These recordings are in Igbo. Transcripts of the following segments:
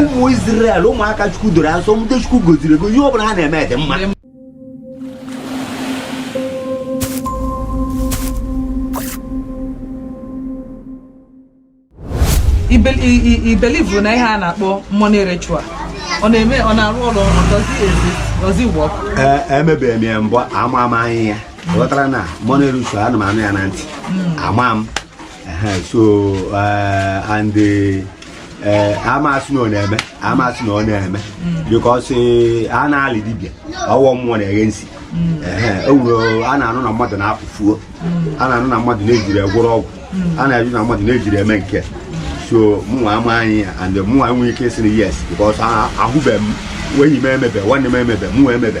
ụmụ Izrel ụmụaka Chukwu doro asọ ndị Chukwu gọziri ego ihe ọ bụla ha na-eme dị mma i believe na ihe a na-akpọ money ritual ọ na-eme ọ na-arụ ọrụ does it work emebeghị m ya mbụ ama m anya ya ghọtara na money ritual ana m anụ ya na ntị hmm. ama m so uh, and the ee eh, ama m sị na ọ na-eme ama m sị na ọ na-eme because eh, a na-eli dibịa ọ wụ mmụọ na-eghe nsi ewuro a na-anụ na mmadụ na-apụ fuo a na-anụ na mmadụ na-ejiri agwọrọ ọgwụ a na-anụ na mmadụ na-ejiri eme nke so mụnwa ama anya ya and mụnwa enweghị ike sị na yes because ahụbeghị m enyi m emebe nwanne m emebe mụnwa emebe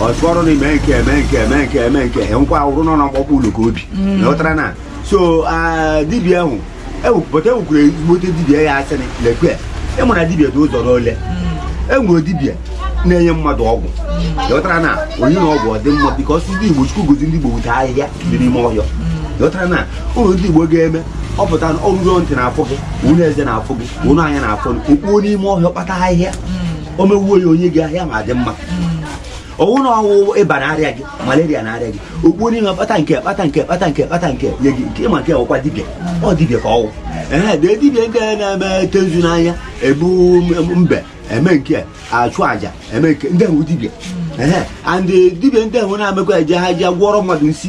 o soro na-eme nke eme nke eme nke eme nke he nkwa awụrụ nọ na mkpọkpọ ụlọ ka o bi mm. ghọtara na so dibịa ahụ ewepụta ewukwuru ezigbote dibịa ya asị lekwe ị ma na dibịa dị ụzọ n'ole e nwere dibịa na-enye mmadụ ọgwụ ghọtara na o nye ya ọgwụ ọ dị mma because ndị igbo chukwu gọzi ndị igbo with ahịhịa dị n'ime ọhịa ghọtara na ụlọ ndị igbo ga-eme ọ pụta na ọ wụrụ ntị na-afụ gị ụfụ eze na-afụ gị ụfụ anya na-afụ gị o kpuo n'ime ọhịa kpata ahịhịa o mewuo ya o nye gị ahịa ma adị mma ọ wụ na ọ wụ ịba na-arịa gị malaria na-arịa gị o kpuo n'ime kpata nke kpata nke kpata nke kpata nke nye gị nke ị ma nke ọ kwa dibịa ọ dibịa ka ọ wụ ee dee dibịa nke na-eme tezu n'anya ebu mbe eme nke achụ aja eme nke ndị ahụ dibịa ee and dibịa ndị ahụ na-emekwa eje ha ji gwọrọ mmadụ nsi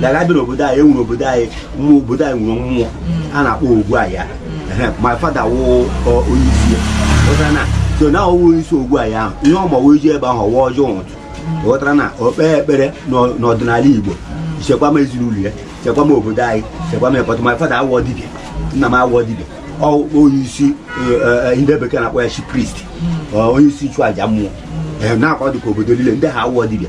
dịka a bịa n'obodo anyị e nwere obodo anyị mmụọ obodo anyị nwere mmụọ a na-akpọ ogbu ahịa my father wụ onye isi ya na so na ọ wụ onye isi ogbu ahịa ahụ ihe ọ ma wee je ebe ahụ ọ waa ọjị ụtụtụ ghọtara na o kpee ekpere n'ọdịnala Igbo chekwa m ezinụlọ ya chekwa m obodo anyị chekwa m ekpọtụ my father awọ dibịa nna m awọ dibịa onye isi e, e, e, ndị bekee na-akpọ ya chief priest onye isi ịchụ aja mmụọ na-akwa dịka obodo niile ndị ha awọ dibịa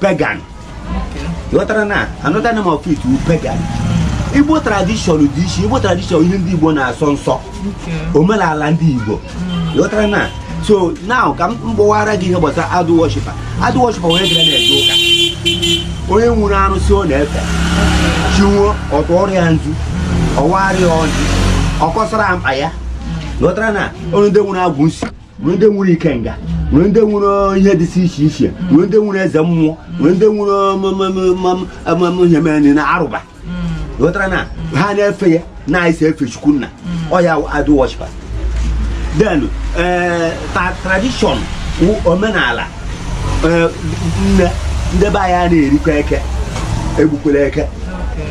pagan ghọtara na another name of it wụ pagan igbo tradition dị iche igbo tradition ihe ndị igbo na-asọ nsọ omenala ndị igbo ghọtara na so now ka m gbawara gị ihe gbasara idol worshiper idol worshiper onye gara na-eje ụka onye nwere arụsị ọ na-efe chi bọọ ọ tụọrọ ya nzu ọ waara ya ọjị ọ kọsara mkpa ya ghọtara na onye ndị nwere agwụ nsi nwere ndị nwere ikenga nwere ndị nwere ihe dịsị iche iche nwere ndị nwere eze mmụọ nwere ndị nwere ihe mere na arụba ghọtara na ha na-efe ya na-esi efe chukwu nna ọ ya idol worshiper then tradition omenala nne ndị be anyị a na-erikwa eke egbukwele eke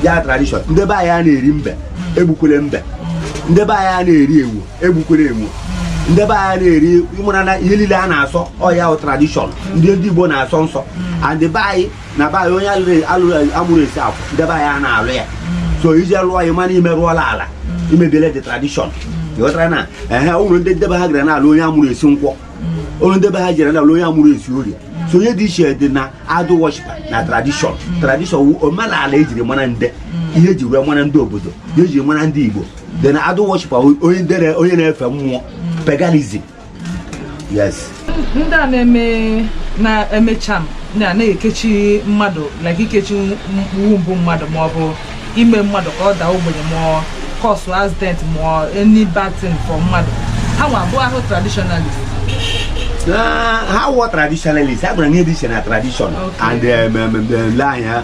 ya tradition ndị be anyị a na-eri mbe egbukwele mbe ndị be anyị a na-eri ewu egbukwere ewu ndị be anyị na-eri ịmara na ihe niile a na-asọ ọ ya bụ tradition ndị ndị Igbo na-asọ nsọ and be anyị na be anyị onye amụrụ esi akwụ ndị be anyị a na-alụ ya so i jee lụọ ya ma na i merụọla ala i mebiele the tradition ịghọtara na ehe ụlọ ndị ndebe ha gara na-alụ onye amụrụ esi nkwọ ụlọ ndebe ha jere na-alụ onye amụrụ esi orie so ihe dị iche dị na idol worshipper na tradition tradition omenala ejiri mara nde ihe eji wee mara ndị obodo ihe eji mara ndị Igbo then idol worship onye dere onye na-efe mmụọ paganism yes ndị a na-eme na-eme charm na na-ekechi mmadụ like ikechi womb mmadụ ma ọ bụ ime mmadụ ka ọ daa ogbenye ma ọ cause accident ma ọ any bad thing for mmadụ ha nwa abụrọ traditionalist ha wọ traditionalist ha gwara ihe dị iche na tradition and um, um, um, um, lee anya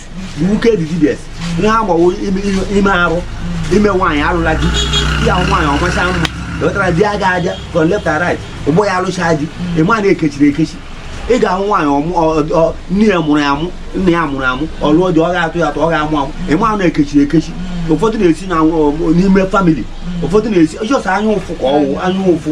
the wicked dibịa ihe agbawo ime arụ ime nwaanyị alụla di ya nwaanyị ọ macha mma ewetara di aga aja from left and right ụgbọ ya alụcha di ịma na ekechiri ekechi ị ga-ahụ nwaanyị nne ya mụrụ amụ nna ya mụrụ amụ ọ lụọ di ọ ga-atụ ya atụ ọ ga-amụ amụ ịma na ekechiri ekechi ụfọdụ na-esi n'ime family ụfọdụ na-esi just anya ụfụ ka ọwụ anya ụfụ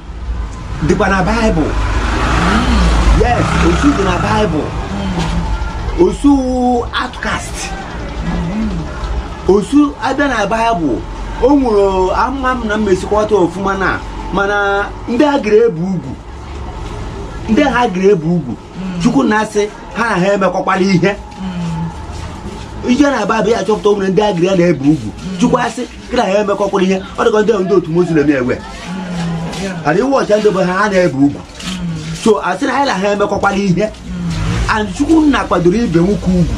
dịkwa na Bible yes osu dị na Bible osu outcast osu abịa na Bible o nwere ama m na mmesikọta ọfụma na mana ndị a gara ebe ugwu ndị ha gara ebe ugwu chukwu nna asị ha na ha emekọkwala ihe i je na Bible ị ya-achọpụta o nwere ndị a gara na-ebe ugwu chukwu asị gị na ya emekọkwala ihe ọ dịka ndị ndị otu Muslim na-eme ewe adịghị wọcha ndị bụ ha ha na-ebe ugwu so a sị na anyị na ha emekọkwala ihe and chukwu nna kwadoro ibe nwoke ugwu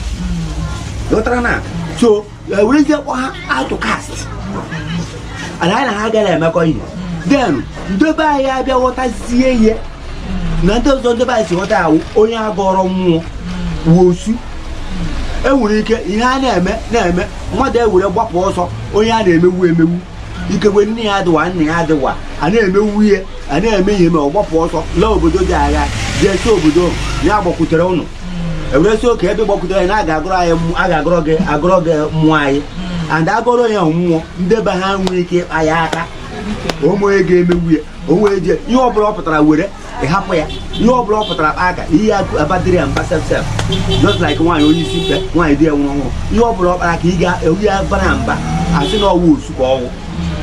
ghọtara na so ewerezie kpọ ha outcast and anyị na ha agaghị emekọ ihe then ndị be anyị abịa ghọtazie ihe n'ụdị ọzọ ndị be anyị si ghọta ya wụ onye agọrọ mmụọ wụ osu e nwere ike ihe a na-eme na-eme mmadụ ewere gbapụ ọsọ onye a na-emegbu emegbu ikekwe nne ya adịwa nna ya adịwa a na-emegbu ihe a na-eme ihe ma ọ gbapụ ọsọ laa obodo dị agha jee sị obodo ahụ, ya gbakwutere ụnụ ewere sị okay ebe gbakwutere anyị na a ga-agọrọ anyị mmụọ- a ga-agọrọ gị agọrọ gị mmụọ anyị and agọrọ ya mmụọ ndị be ha nwere ike ịkpa ya aka o nwe onye ga-emegbu ya o wee jee ihe ọbụla ọ pụtara were ị hapụ ya ihe ọbụla ọ pụtara kpa aka ihe abadịrị ya mba sef sef just like nwaanyị onye isi mkpe nwaanyị di ya nwụrụ ọhụrụ ihe ọbụla ọ kpara aka ị ga-eji ya bara ya mba asị na ọwụ osu ka ọwụ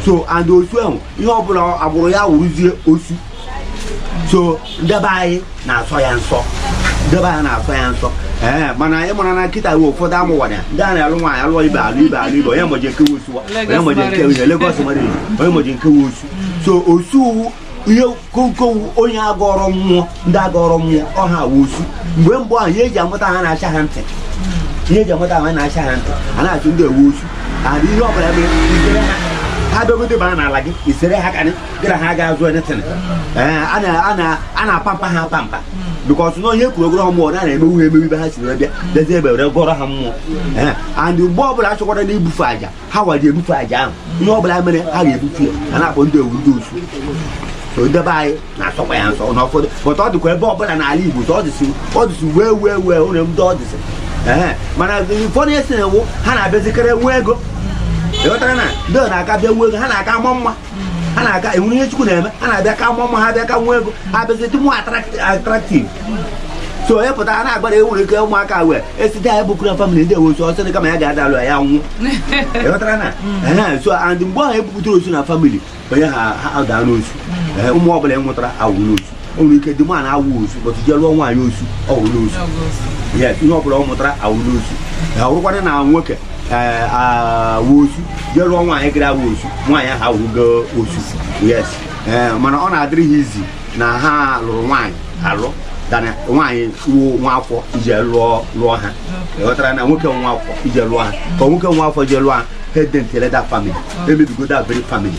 so and osu ahụ ihe ọbụla agbụrụ ya wụrụzie osu so ndebe anyị na-asọ ya nsọ ndebe anyị na-asọ ya nsọ ee eh, mana ị mara na kịta we ụfọdụ amụwara ya ndị a na-alụ nwaanyị alụọ ibe alụ ibe alụ ibe onye mazi nke wụ osu wa onye mazi nke wụ ihe Lagos mmadụ onye mazi nke wụ osu so osu wụ ihe konkonwu onye agọrọ mmụọ ndị agọrọ mmụọ ọ ha wụ osu mgbe mbụ ahụ ihe e ji amata ha na-acha ha ntị ihe e ji amata ha na-acha ha ntị a na-achụ ndị wụ osu ana ihe ọ bụla mere i zere ha ha bịagote ba n'ala gị i zere ha karị gị na ha ga-azọ anything a na-apampa ha apampa because na onye kwuru a gọrọ ha mmụọ na na-emewu emewu ibe ha si wee bịa dezie e were gọrọ ha mmụọ and mgbe ọ bụla a chọkwara na ibufe aja ha wa ji ebufe aja ahụ ihe ọ bụla mere ha ga-ebufe ya a na-akpọ ndị ọ wụ ndị osu so ndebe anyị na-asọkwa ya nsọ na ụfọdụ pụta ọ dịkwa ebe ọbụla n'ala Igbo so ọ dịsị ọ dịsị wee wee wee ụlọ ndị ọ dịsị ee mana ụfọdụ esi na-ewu ha na-abịazikarị nwee ego ị ghọtara na ndị ọ na-aka bịa nwee ego ha na-aka ama mma ha na-aka e nwere ihe Chukwu na-eme ha na-abịa ka maa mma ha abịa ka nwee ego ha bịazi dị more attractive so onye pụta a na-agbara e nwere ike ụmụaka wee esite anyị bụkura family ndị wụ osu ọsọ dị kama ya ga-adalụ ya nwụọ ị ghọtara na mm. so and mgbe ahụ e bupụtara osu na family onye ha ha daa n'osu mm. ụmụ ọbụla ị mụtara awụrụ osu o nwere ike dị mana awụ osu but jee lụọ nwaanyị osu ọ wụrụ osu yes ihe ọ bụla ọ mụtara awụrụ osu ya wụrụkwanụ na nwoke wụ osu jee lụọ nwaanyị ghara awụ osu nwaanyị ahụ awụgo osu yes mana ọ na-adịrị ha easy na ha lụrụ nwaanyị alụ than na nwaanyị wụ nwa afọ ije lụọ lụọ ha ghọtara na nwoke nwa afọ ije lụọ ha ka nwoke nwa afọ jee lụọ ha ha edentele that family emebigo that very family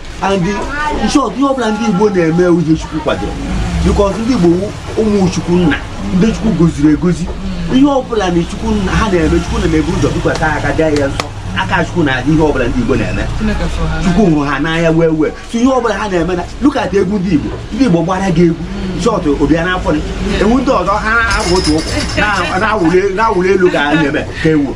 and in short ihe ọbụla ndị Igbo na-eme uche Chukwu kwadoro because ndị Igbo ụmụ Chukwu nna ndị Chukwu gọziri agọzi ihe ọbụla na Chukwu nna ha na-eme Chukwu na-ebu ụzọ bikwasa aka gaa ya nsọ aka Chukwu na-adị n'ihe ọbụla ndị Igbo na-eme Chukwu hụrụ ha n'anya wee wee so ihe ọbụla ha na-eme na look at egwu ndị Igbo ndị Igbo gbara gị egwu short ọ bịa n'afọ egwu ndị ọzọ ha agba otu ụkwụ na-awụli elu ka a na-eme ka ewu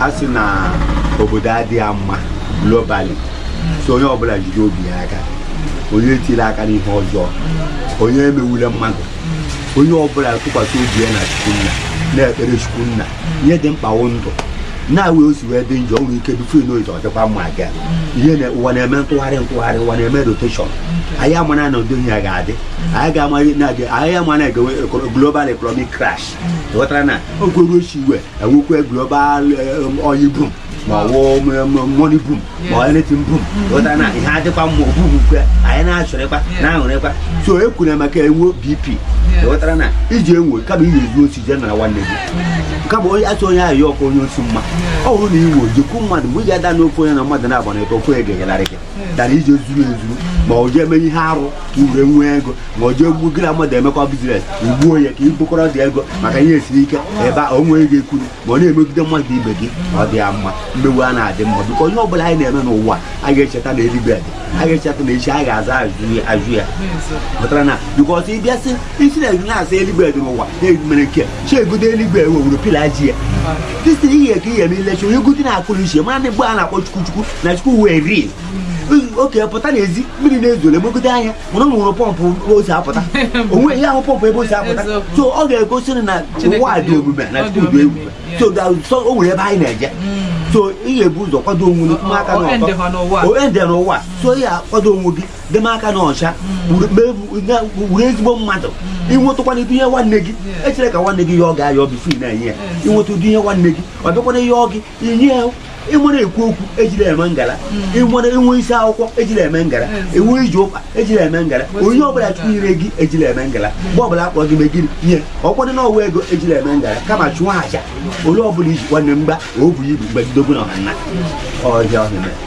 a sị na obodo adịghị mma globally so onye ọbụla jide obi ya aka onye etila aka n'ihe ọjọọ onye emewule mmadụ onye ọbụla tụkwasị obi ya na Chukwu nna na-ekpere Chukwu nna ihe dị mkpa wụ ndụ na-awụ o si wee dị njọ nwere ike before you know it ọ dịkwa mma ga ihe na ụwa na-eme ntụgharị ntụgharị ụwa na-eme rotation anyị amana na ụdị ihe ya ga-adị anyị ga-amaghị na anyị amana a ga-enwe global economic crash ghọtara na ọ ga-eru echi e wee nwekwaa global um, oil boom ma ọ um, um, money boom ma ọ anything boom ghọtara na ihe adịkwa mma ogbubukwe anyị na-achọrịkwa na-aṅụrịkwa so e kwuru maka enwe BP ghọtara na i ji enwe kama ị na-ezu osi jee nara nwanne gị kama onye asị onye ahụ ya ọkụ onye osi mma ọ bụrụ na ị wee jekwu mmadụ mgbe ị ga-ada n'ofe onye na mmadụ na-agbanyeghị ofe egenyelari gị dara ije zuru ezuru ma ọ jee eme ihe arụ ka ure nwee ego ma ọ jee gbuo gị na mmadụ emekọ bizines igbuo ya ka ibukọrọ dị ego maka ihe esiri ike ebe a onwe ego ekwuru ma ọ na-emegide mmadụ ibe gị ọ dị ya mma mmewe a na-adị mma biko ihe ọbụla anyị na-eme n'ụwa a ga-echeta na eluigwe dị a ga-echeta na echi a ga-aza ajụjụ ya pụtara na bikọs ịbịa sị isi na na-asa eluigwe dị n'ụwa na-emere nke chi egodo eluigwe wewuru pila ji ya dịsị ihe ka ihe eme ilechi onye godi na-akụrụ iche mara na mgbe a na-akpọ chukwu chukwu na chukwu wee rie oke pụta n'ezi mmiri na-ezo legide anya mana o nwere pọmpụ o si apụta onwe ya ahụ pọmpụ ebe o si apụta so ọ ga-egosi na ụwa dị omimi na chukwu dị ebube so o nwere ebe anyị na-eje so ị ga-ebu ụzọ kwado onwe gị aka n'ọtọ ende n'ụwa so ị ga-akwado onwe gị deme aka n'ọcha wụrụ ezigbo mmadụ ịnwetụkwana ụdị ihe nwanne gị echere ka nwanne gị yọọ gị ayọ bifo ị na-enye ya ịnweta ụdị ihe nwanne gị ọ bịakwana yọọ gị ịmara ekwu okwu ejile eme ngala ịnwere hmm. inwe isi akwụkwọ ejile eme ngala inwe iji ụkpa ejile eme ngala ihe ọbụla chukwu nyere gị ejile eme ngala hmm. mgbe ọbụla akpọrọ gị megiri ihe ọkwadị na ọwụ ego ejile eme ngala kama chụọ aja onye ọbụla iji nwanne mgba o bu ibu mgbe dobu na ọha nna hmm. ọhịa ọhịa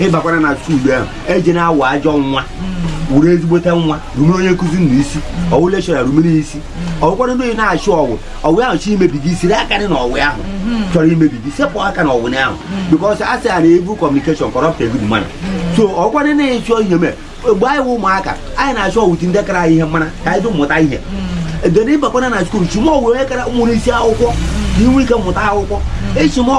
ịbakwanụ na skuulu ahụ ejena awụ ajọ nwa wụrụ ezigbote nwa rumere onye nkụzi gị isi ọwụ lekchọra rumere isi ọwụkwanụ na ị na-achị ọwụ ọwụ ahụ chọọ imebi gị sere aka gị na ọwụ ahụ chọrọ imebi gị sepụ aka na ọwụ ahụ bikọs a sị ya na ivul kọmunikeshọn kọrọpụt gud mana so ọwụkwanụ na ịchọ ihe mee mgbe anyị wụ ụmụaka anyị na-achị ọwụ ụdị ndị kara ihe mara ka anyị mụta ihe edere ịbakwana na skuul chịma ọwụ onye kara nwere isi akwụkwọ ka inwe ike mụta akwụkwọ ịchịma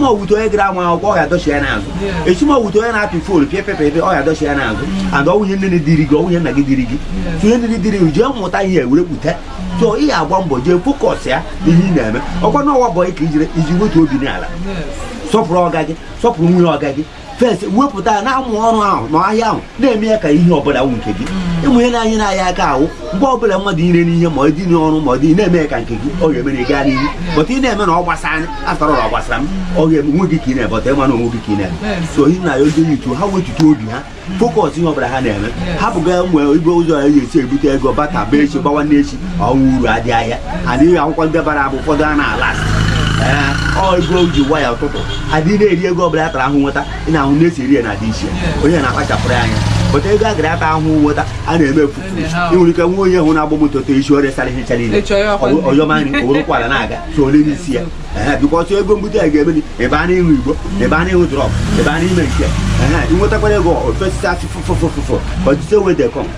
ọwụ ụdị onye gara ama akwụkwọ ọ ga-adọchi ya n'azụ ịchịma ọwụ ụdị onye na-apị foonu pịapịapịapịa ọ ga-adọchi ya n'azụ and ọwụghị ihe nne diri gị ọwụghị ihe nna gị diri gị so ihe nne diri gị jee mụta ihe were pụta so ị ga-agba mbọ jee fokọs ya ihe ị na-eme ọkwa na ọwụ bọyị ka ijere ijee wetu obi n'ala sọpụrụ ọga gị sọpụrụ nwunye ọga gị fes wepụta ya na-amụ ọrụ ahụ na ahịa ahụ na-eme ya ka ihe ọbụla wụ nke gị mm. ịmụ ihe na-anyị na-ahịa aka ahụ mgbe ọbụla mmadụ ire n'ihe ma ọ dị n'ọrụ ma ọ dị na-eme ya ka nke gị ọ ga-emere gaa n'ihu bọta ị na-eme na ọ gbasa anyị afọrọ na ọ gbasara m ọ ga-eme onwe gị ka ị na-eme bọta ịma na onwe gị ka ị na-eme so ihe m na-ayọzi yutu ha wetutu obi ha fokọs ihe ọbụla ha na-eme hapụga nwee ibe ụzọ ya ga-esi ebute ego bata bee echi gbawa n'echi ọnwụ uru adị ahịa adịghị akwụkwọ ndị bara abụ ụfọdụ a na-ala ego ji gwa ya ụtụtụ adị na-eri ego ọbụla ya tara ahụhụ nweta ị na-ahụ na-esi eri ya na adị iche onye na-akpachapụrụ ya anya bọta ego agara ata ahụhụ nweta a na-eme efu ịnwere ike nwa onye hụ na-agba moto to isi ọrịa sara ihe niile ọyọmanyị owerekwala na-aga so ole n'isi ya bikọs ọwụ ego mbute ya ga-emeli ebe a na-aṅụ igbo ebe a na-aṅụ drọg ebe a na-eme nke ị nwetakwara ego ofesisi asị fụfụfụfụfụ ọtụtụ ewe dekọm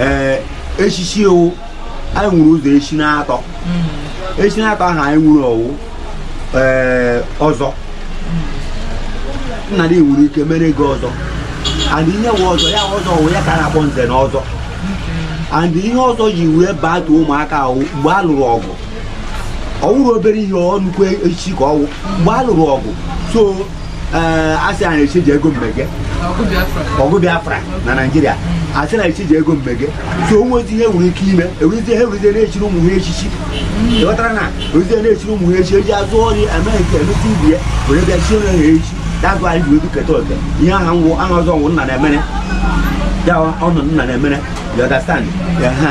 ee echichi ọ wụ anyị nwere ụzọ echi na-atọ hmm. echi na-atọ ahụ anyị nwere ọ wụ ee ọzọ nna gị nwere ike mere gị ọzọ and ihe wụ ọzọ ya ọzọ wụ ya ka a na-akpọ nze na ọzọ and ihe ọzọ ji wee bata ụmụaka wụ mgbe a lụrụ ọgụ ọ wụrụ obere ihe ọ nnukwu echichi ka ọ wụ mgbe a lụrụ ọgụ so asị a na-echi ji ego mmege ọgụ Biafra na Naịjirịa asị na echi ji ego mmege so o nwezi ihe nwere ike ime ewezie ha ewezie na-echiri ụmụ ha echichi ị ghọtara na ewezie na-echiri ụmụ ha echi eji azụ ọrị amaghị nke emeta ibi ya were bịa chie ha echi that's why ji wedu keta oke ihe aha nwụ aha ọzọ ọ wụ nna na-emere ya ọ wụ nna na-emere you understand ya ha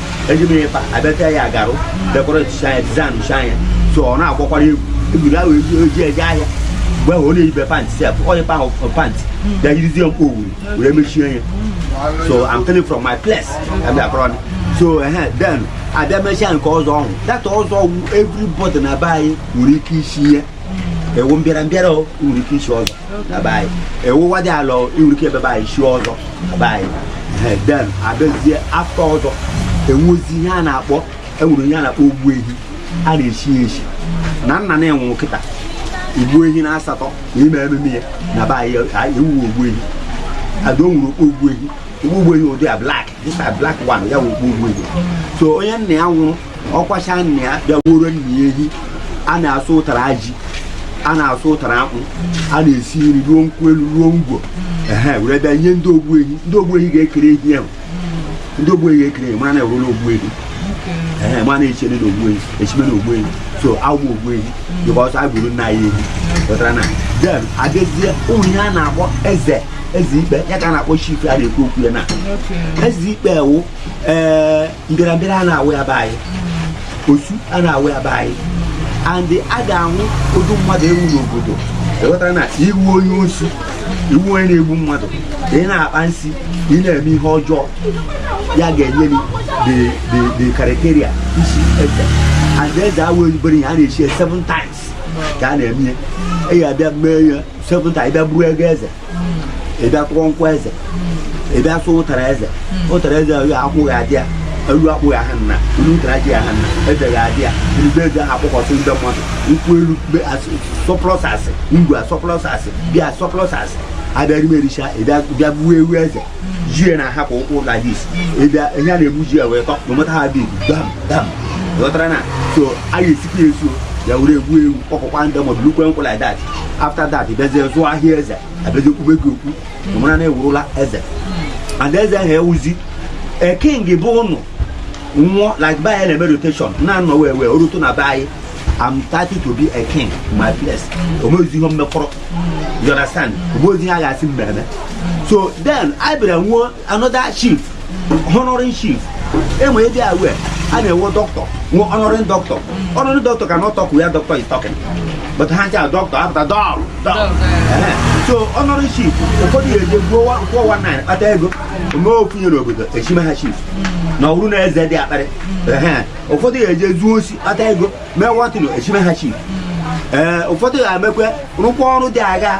eji m ịkpa abịacha ya agarụ decoratecha anya designcha anya so ọ na-agbakwara egwu egwuru ahụ eji eje ahịa mgbe ahụ ọ na-eyibe pantị sef onye pa ahụ pantị bịa yirizie mkpa owuru wee mechie ya so I'm telling from my place abịa akọrọ ni so ehe then abịa mechaa nke ọzọ ahụ that ọzọ ọ wụ everybody na be anyị nwere ike ichi ihe ewu mbịara mbịara o nwere ike ichi ọzọ na be anyị ị wụ nwadiala i nwere ike ebe be anyị chie ọzọ na be anyị Ehe, then abịazie after ọzọ enwezi ihe a na-akpọ enwere ihe a na-akpọ ogbu ehi a na-echi ya echi na nna na-enwe kịta igbu ehi na asatọ na ime ememe ya na be anyị anyị ewuwe ogbu ehi and o nwere okpu ogbu ehi okpu ogbu ehi ụdị a black dịka black one ya wụ okpu ogbu ehi so onye nna ya nwụrụ ọ kwacha nna ya bịa gbuoro nna ya ehi a na-asụ ụtara ji a na-asụ ụtara akpụ a na-esi nri ruo nkwụ elu ruo ngwọ ehe were bịa nye ndị ogbu ehi ndị ogbu ehi ga-ekere ehi ahụ ndị ogbu ehi ga-ekere ehi mara na ewuru na ogbu ehi ehe mara na-echene na ogbu ehi echime na ogbu ehi so awụ ogbu ehi because a gburu nna ya ehi pụtara na then abịazie ụmụ ihe a na-akpọ eze eze ikpe ya ka a na-akpọ chief a na-ekwu okwu ya na eze ikpe wụ ee mbịarambịara a na-awụ ya be anyị osu a na-awụ ya be anyị and a ga-ahụ ụdị mmadụ ị wụ n'obodo ewetara na ị wụ onye osu ị wụ onye na-egbu mmadụ ị na-akpa nsị ị na-eme ihe ọjọọ ya ga-enye gị the- the- the criteria ichi eze and eze awụzị obere ihe a na-echi ya seven times ka a na-eme ya ị ga-abịa mee ya seven times bịa buru ego eze ị bịa kụọ nkwụ eze ị bịa sụ ụtara eze ụtara eze ahụ akwụghị adị ya elu akpụghị aha nna elu ụtara ji aha nna eze ga-adị ya ebe eze ahụ akpọkọsị ndị mmadụ nkwụ elu surplus asị ngwọ surplus asị beer surplus asị abịa rime ericha ị bịa bịa gbuo ewu eze jie na ahapụ ụkwụ ụlọ dis ị bịa ihe a na-egbu ji ya wee tọ no matter how big dam dam ghọtara na so a ga-esikwa ya esuo ya were egbu ewu kpọkọkwa ndị mmadụ lukwe nkwụ like that after that bịazie zụọ ahịa eze abịazie kpube gị okpu na mara na-ewurula eze and eze ahụ ewuzi a king bụ ụnụ nwụọ like be anyị na-eme rotation na-anọ wee wee orutu na be anyị I'm starting to be a king my place o nwezi ihe m mekọrọ you understand o nwezi ihe a ga-asị mmemme so then anyị bịara nwee another chief honoring chief enwe ị dị aware a na-enwe dọkịta nwee honoring dọkịta honoring dọkịta cannot talk where doctor is talking but ha ncha dọkịta apụta dọl dọl Ehe. so honoring chief ụfọdụ ya eje gbuo wa- 419 kpata ego o mee ofu ihe n'obodo echime ha chief na ọrụ na eze dị akparị Ehe. ụfọdụ ya eje zuo osi kpata ego mee nwatịnụ echime ha chief ee ụfọdụ ya emekwe rụkwa ọrụ dị agha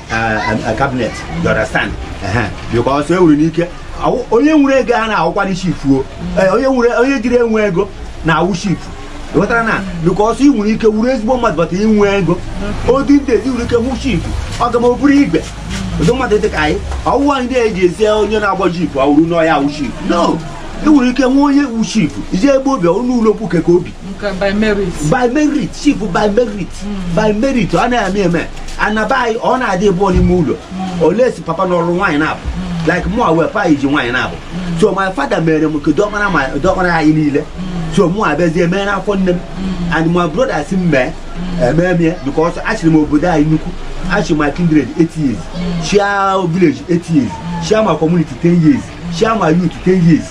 kabinet you understand because e nwere ike onye nwere ego a na-awụkwara chifu eh, onye jiri enwe ego na-awụ chifu ghọtara na because ị nwere ike wuru ezigbo mmadụ but inwe ego odi ndị eze nwere ike hụ chifu ọ ga ma ọ bụrụ igwe ụdị mmadụ dị ka anyị ọwụwa anyị na-eji ezi onye na-agba jeep ọ wụrụ n'ọ ya wụ chifu no ị nwere ike nwe onye wu chifu i je ebe o bi ọnụ ụlọ okwu keke o bi by merit chifu by merit hmm. by merit ọ na-eme eme na be anyị ọ na-adị ebe ọ n'ime ụlọ hmm. unless papa lụrụ nwaanyị naabọ hmm. like mụwa pa ji nwaanyị naabọ hmm. so my father mere nke diọkpara ma diọkpara anyị niile so mụ abịazie mee n'afọ nne m and my brother sị m mee emee m ya because achịrị m obodo anyị nnukwu achịrị my kindred 8 years chịa village 8 years chịa my community 10 years chịa my youth ten years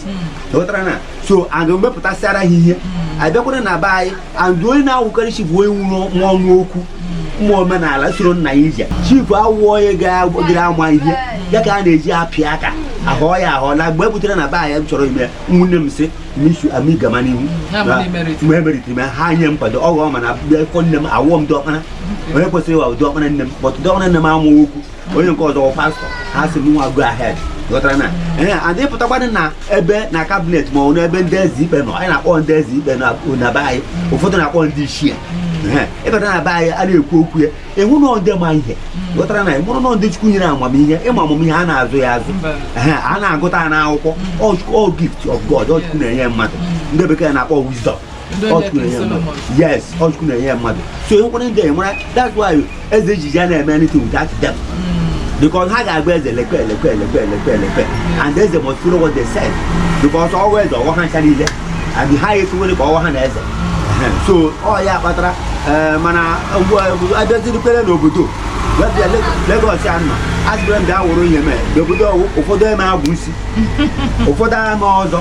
ghọtara na so a ga-emepụtasịara ha ihe abịakwara na be anyị and onye na-awụkarị chifu onye nwụrụ nwa ọnụ okwu ụmụ omenala soro nna ya ije chifu awụọ onye ga-agịrị ama ihe ya ka a na-eji apịa aka ahụ ya ahụ na mgbe e butere na be anyị m chọrọ ime nwanne m sị misu ami gama n'ihu mgbe emerite ime ha nye nkwado ọghọ mana be nne m awụọ m diọkpara onye kwesịrị ịwụ diọkpara nne m but diọkpara nne m amụghị okwu onye nke ọzọ pastọ ha sị mụnwa go ahead ghọtara na ee and pụtakwadị na ebe na kabinet ma ọ n'ebe ndị eze ikpe nọ anyị na-akpọ ndị eze ikpe na be anyị ụfọdụ na-akpọ ndị ichie ịbata na be anyị a na-ekwu okwu ya ị hụ na ndị ma ihe ghọtara na ị hụrụ na ndị chukwu nyere amamihe ịma amamihe a na-azụ ya azụ a na-agụta ya n'akwụkwọ ọ gift of God ọ chukwu na-enye mmadụ ndị bekee na-akpọ wisdom yes ọ chukwu na-enye ya mmadụ so ihe nkwere ndị a enwere that's why eze ji ya na-eme anything without them hmm. because ha ga-agwa eze lekwe lekwe lekwe lekwe lekwe and eze must follow what they said because ọwa eze ọwa ha ncha niile and ha ekwuwere ka ọwa ha na eze so ọ ya kpatara eh, mana abịazirikwere n'obodo wee bịa Lagos ya nọ azụrụ m bịa wụrụ ihe mee n'obodo ụfọdụ eme agwụ isi ụfọdụ ama ọzọ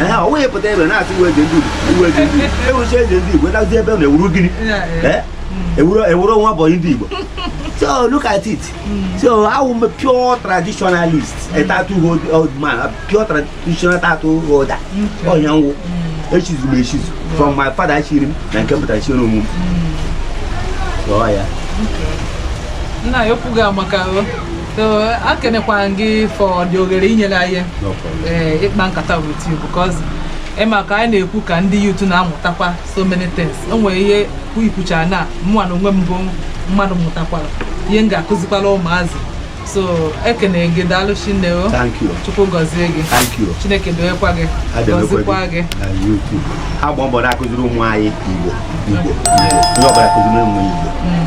ee ọ wụghị pụta ebe na-asị ị wụ eze ndị Igbo ị wụ eze ndị Igbo ị wụchaa eze ndị Igbo dazie ebe na ị wụrụ gịnị ee ị wụrụ ị wụrụ nwa bọyị ndị Igbo so look at it so awụ m pure traditionalist a titled man a pure traditional title holder ọ ya wụ echichi m echichi from my father chiri m na nke pụtara chiri onwe m so ọ ya nna anyị ukwu ga-amaka o ekenekwa m gị for the oghere i nyere anyị eh, ịkpa nkata with you because ị ma ka anyị na-ekwu ka ndị youth na-amụtakwa so many things o nwere ihe i kwuchara na mụnwa na onwe m bụ mmadụ mụtakwara ihe m ga-akụzikwara ụmụazị so ekene gị daalụ shinne o chukwu gọzie gị chineke dowekwa gị gọzikwa gị ha gba mbọ na-akụziri ụmụ anyị igbo igbo onye ọbụla kụziri ụmụ igbo mm.